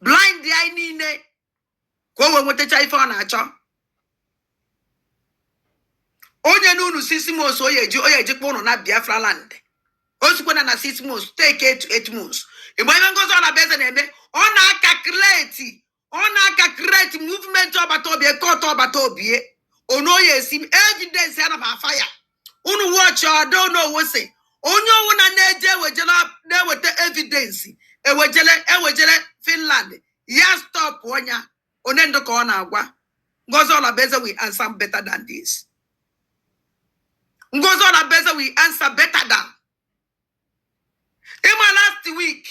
blind anyị niile ka o wee nwetacha ife ọ na-achọ o nyena unu six months ọ ya-eji kpọ unu na biafra land o sikwana na six months take eight eight months mgbe ife Ngozi Olabueze na-eme ọ na-aka create ọ na-aka create movement Obatobie court Obatobie o nwo onye sị m evidence ya naba afa ya unu watch ọdọ onowo si onye ọ wụna na-eje ewejela na-eweta evidence ewejele Finland ya stopụọ nya one ndị ka ọ na-agwa Ngozi Olabueze will answer better than this Ngozi Olabueze will answer better than ị ma last week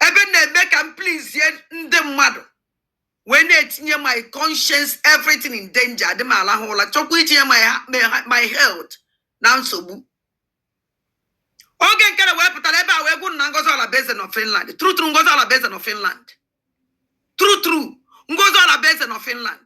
ebe na-eme ka m pleasie ndị mmadụ wee na-etinye my conscience everything in danger adị m alahụ ụla chọkwa itinye my health na nsogbu oge nke na wee pụta n'ebe a wee gwa unu na Ngozi Olabueze nọ Finland true true Ngozi Olabueze nọ Finland true true Ngozi Olabueze nọ Finland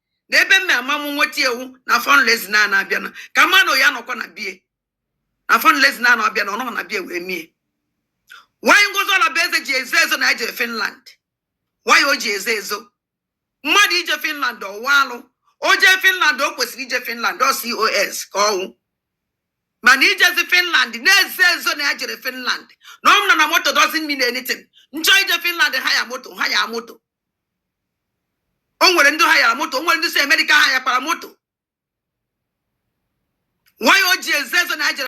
n'ebe m na-ama m nweta ewu na fundraising na na-abịa na ka mmanụ ya nọkwa na bie na fundraising na na-abịa na ọ nọ na bie wee mie why Ngozi Olabueze ji ezo ezo na e jere finland why o ji ezo ezo mmadụ ije finland ọ wụ alụ o jee finland o kwesịrị ije finland ọ COS ka ọ wụ mana ijezi finland na-ezo ezo na ya jere finland na ọ nọ na moto doesn't mean anything m chọọ ije finland hire moto hire moto o nwere ndị hirera moto o nwere ndị si Amerịka hirekwara moto why o ji ezo ezo na ya jere